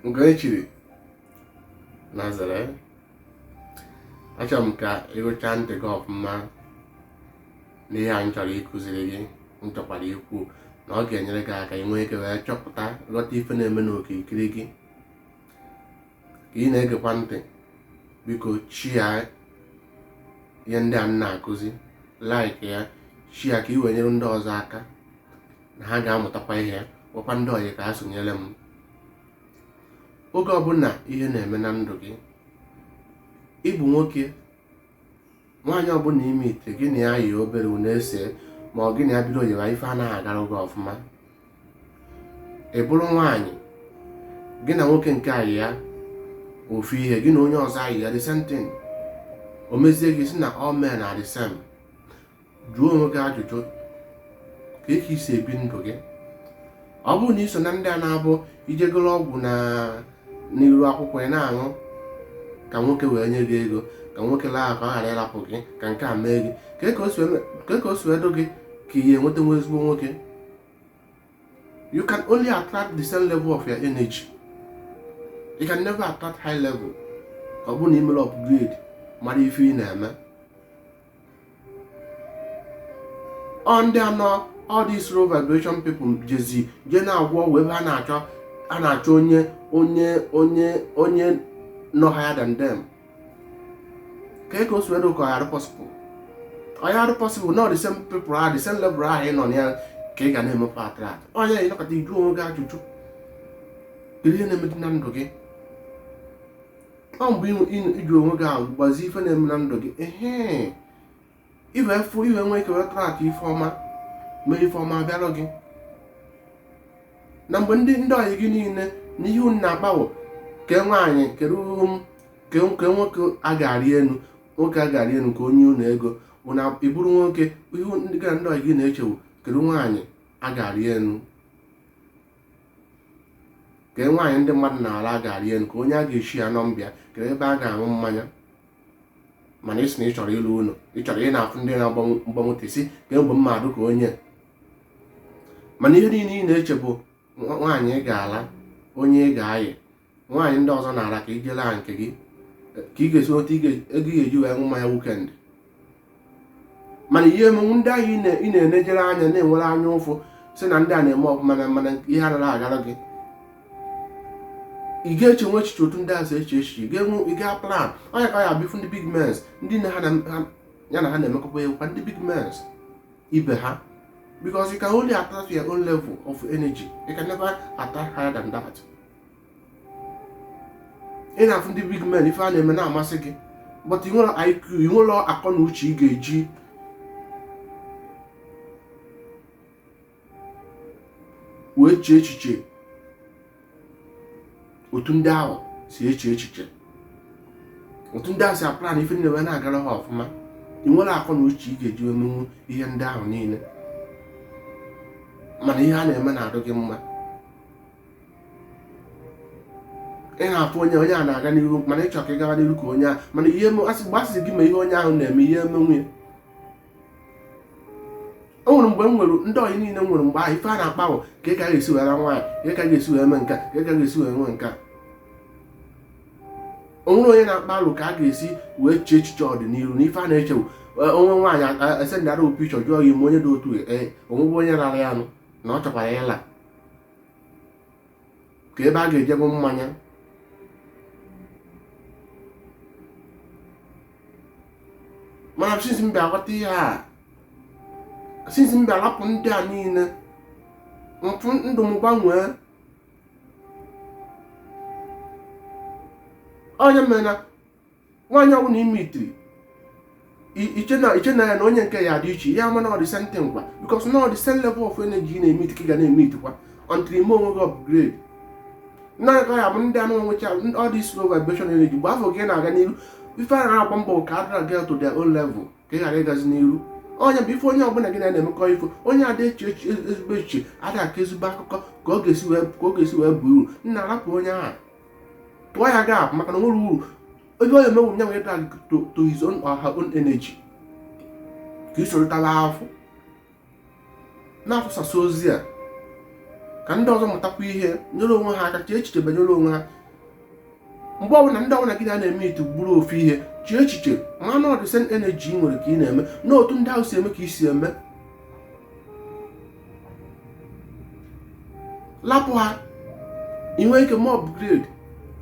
nke e chiri nazere achọrọ m ka ị wụcha ntị gị ọfụma n'ihe a m chọrọ ịkụziri gị m chọkwara ikwu na ọ ga-enyere gị aka inwe ike wee chọpụta ghọta ife na-eme n'okirikiri gị ka ị na-egekwa ntị biko share ihe ndị a m na-akụzi like ya share ka ị wee nyere ndị ọzọ aka na ha ga-amụtakwa ihe gwakwa ndị ọyị ka ha sonyere m oge ọbụla ihe na-eme na ndụ gị ị bụ nwoke nwaanyị ọbụla ị meet gị na ya yi obere unu ese ma ọ gị na ya bido oyiwa ife anaghị agara gị ọfụma ị bụrụ nwaanyị gị na nwoke nke a ayịa ofu ihe gị na onye ọzọ ayịa the same thing o mezie gị sị na all men are the same jụọ onwe gị ajụjụ kee ka i si ebi ndụ gị ọ bụrụ na i so na ndị a na-abụ i je goro ọgwụ n'iru akwụkwọ ị na-aṅụ ka nwoke wee nye gị ego ka nwoke laa ka ọ ghara ịrapụ gị ka nke a mee gị kee ka o si edo gị ka ị ya-enwetanwu ezigbo nwoke you can only attract the same level of your energy you can never attract high level ọ bụrụ na i mere upgrade mara ife ị na-eme ọ ndị ahụ all these low vibration people jezi je na-agwọ ọgwụ ebe ha na-achọ onye nọ higher than them kee ka o si edo ka ọ ya-adị possible ọ ya-adị possible na the same people ahụ the same level ahụ ị nọ na ya ka ị ga na-emepe attract onye ị nọkata ị jụọ onwe gị ajụjụ kedu ihe na-emedi na ndụ gị ọ mgbe ị jụ onwe gị ahụ gbazie ife na-eme na ndụ gị ehe i wee fụ i wee nwee ike wee attract ife ọma mee ife ọma bịara gị na mgbe ndị ndị ọyị gị niile na ihe unu na-akpa wụ kee nwaanyị kedu ke ke nwoke a ga-arị enu nwoke a ga-arị enu ka o nye unu ego bụ na ị bụrụ nwoke ihe gị na ndị ọyị gị na-eche wụ kedu nwaanyị a ga-arị enu kee nwaanyị ndị mmadụ na-ala a ga-arị enu kee onye a ga-eshare number ya kee ebe a ga-aṅụ mmanya mana ị sị na ị chọrọ ịlụ ụnọ ị chọrọ ị na-afụ ndị na-agba moto ị sị kee mgbe mmadụ ka onye mana ihe niile ị na-eche bụ nwaanyị ị ga-ala onye ị ga-ayị nwaanyị ndị ọzọ na-ara ka ị jee laa nke gị ka ị ga-esi nweta ego ị ga-eji wee ṅụ mmanya weekend mana ị ya-emenwu ndị ahụ ị na-enejere anya na-enwere anya ụfụ sị na ndị a na-eme ọfụma na mana ihe anaghị agara gị ị ga-echenwu echiche otu ndị a si eche echiche ị ga-enwe ị ga-aplan ọ nya ka ị ya-abịa fụ ndị big mens ndị na ha ya na ha na-emekọba abụkwa ndị big mens ibe ha because you can only attract your own level of energy you can never attract higher than that ị na-afụ ndị big men ife ha na-eme na-amasị gị but ị nwere IQ ị nwere akọ na uche ị ga-eji wee chee echiche otu ndị ahụ si eche echiche otu ndị ahụ si aplan ife niile wee na-agara ha ọfụma ị nwere akọ na uche ị ga-eji emenwu ihe ndị ahụ niile mana ihe ha na-eme na-adụ gị mma ị na-afụ onye onye a na-aga n'ihu mana ị chọ ka ị gawa n'ihu ka onye a mana ihe asị mgbe a sị gị mee ihe onye ahụ na-eme ị ya-emenwu ya o nwere mgbe m nwere ndị ọyị niile m nwere mgbe ahụ ife a na-akpa bụ ka ị ka ga-esi were nwaanyị ka ị ka ga-esi wee mee nka ka ị ka ga-esi were nwe nka o nwere onye na-akpa alụ ka a ga-esi wee chee echiche ọdịnihu na ife a na-eche wụ e, o nwee nwaanyị e sendara picture jụọ gị ị ma onye dị otu e, o nwego onye rara ya anụ na ọ chọkwara ịla ka ebe a ga-eje ṅụ mmanya mana since m bịa ghọta ihe a since m bịa lapụ ndị a niile m fụ ndụ m gbanwee ọ nya mere na nwaanyị ọbụla ị meetiri i chee na i chee na ya na onye nke ya dị iche ị ya-ama na ọ the same thing kwa because na ọ the same level of energy ị na-emeet ka ị ga na-emeetikwa until i mee onwe gị upgrade naanị ka ya bụ ndị anụ nwecha all this low vibration energy mgbe a fụ gị na-aga n'iru ife a na-agba mbọ ka a drag gị to their own level ka ị ghara ịgazi n'iru ọ nya bụ ife onye ọbụla gị na ya na-emekọ ị fụ onye ada eche eche ezigbo echiche ada akọ ezigbo akụkọ ka ọ ga-esi wee ka ọ ga-esi wee baa uru nna rapụ onye ahụ tụọ ya gap maka na o nwere uru onye onye mewu nya nwere drag to to his own or her own energy ka i sorotala afọ na-afụsasị ozi a ka ndị ọzọ mụtakwa ihe nyere onwe ha aka chee echiche banyere onwe ha mgbe ọbụla ndị ọbụla ị na-emeet bụrụ ofu ihe chee echiche ma na ọ the same energy ị nwere ka ị na-eme na otu ndị ahụ si eme ka i si eme lapụ ha ị nwee ike mee upgrade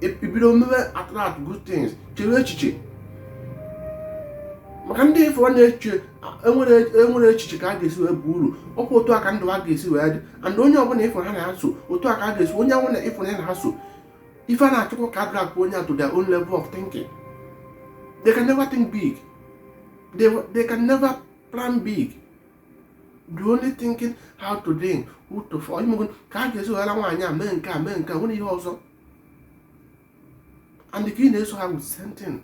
ibido mebe attract good things chere echiche maka ndị ị fụ na-eche enwere echiche ka a ga-esi wee bụ uru ọkwa otu a ka ndụ ha ga-esi wee dị and onye ọbụla ị fụ ha na-eso otu a ka a ga-esi onye ọbụla ị fụ ya na-eso ife ha na-achọkwa ka drag onye to their own level of thinking they can never think big they, they can never plan big they only thinking how to drink who to fuck ị mago ka ha ga-esi laa nwaanyị a mee nke a mee nke a nwere ihe ọzọ and ka ị na-eso ha with same thing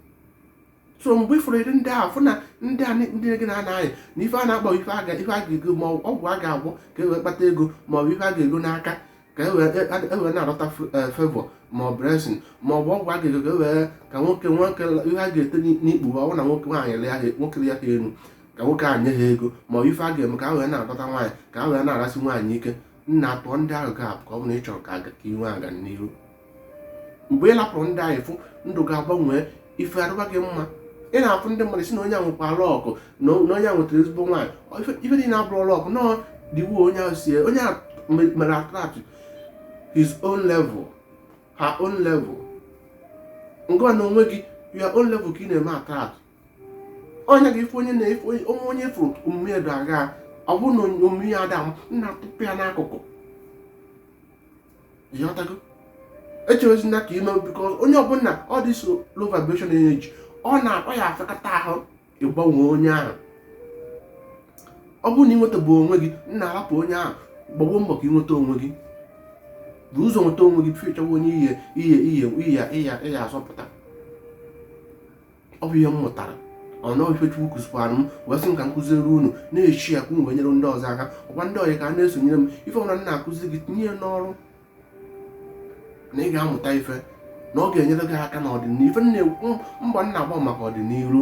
so mgbe ị fụrụ ụdịrị ndị ahụ fụ na ndị a ndị gị na ha na-ayị na ife ha na-akpa ife a ga-ego ma ọgwụ a ga-agwọ ka e wee kpata ego ma ọ bụ ife a ga-ego n'aka ka e wee na-adọta eh, favour ma ọ blessing ma ọ bụ ọgwụ a ga-ego ka e wee ka nwoke nwoke ihe a ga-ete n'ikpu ọ bụrụ na nwoke nwaanyị ya nwoke lịa ha elu ka nwoke a nye ha ego ma ọ ife a ga-eme ka a wee na-adọta nwaanyị ka a wee na-arasị nwaanyị ike nna lapụ ndị ahụ ga-apụ ka ọ bụrụ na ị chọrọ ka i nwee agamnihu mgbe ị lapụrụ ndị ahụ ị fụ ndụ gị agbanwe ife adịba gị mma ị na-afụ ndị mmadụ sị na onye ahụ nwekwara luck na onye ahụ nwetara ezigbo nwaanyị ife ndị a abụrọ luck no diwu onye ahụ si onye ahụ mere attract his own level her own level ngịnwa n'onwe gị your own level ka ị na-eme attract onye gị ife onye na-efe onwe onye fụrụ omume ya aga ọ bụrụ na omume ya ada nna tụpụ ya n'akụkụ ị ghọtago echewezina ka i mee because onye ọbụla all this low vibration energy ọ na-akpa ya afịakata ahụ ịgbanwe onye ahụ ọ bụrụ na ị nwetaberọ onwe gị nna lapụ onye ahụ gbawa mbọ ka ị nweta onwe gị buru ụzọ nweta onwe gị before ị chọwa onye ị ya-azọpụta ọ bụ ihe m mụtara ọ na ọ ife chukwu kụzikwara m wee sị m ka m kụziere unu na echi ya ka unu wee nyere ndị ọzọ aka ọkwa ndị ọyị ka ha na-esonyere m ife ọbụla m na-akụzi gị tinye ya n'ọrụ na ị ga-amụta ife na ọ ga-enyere gị aka n'ọdịnihu ife m na-ekwu mgba m na-agba maka ọdịnihu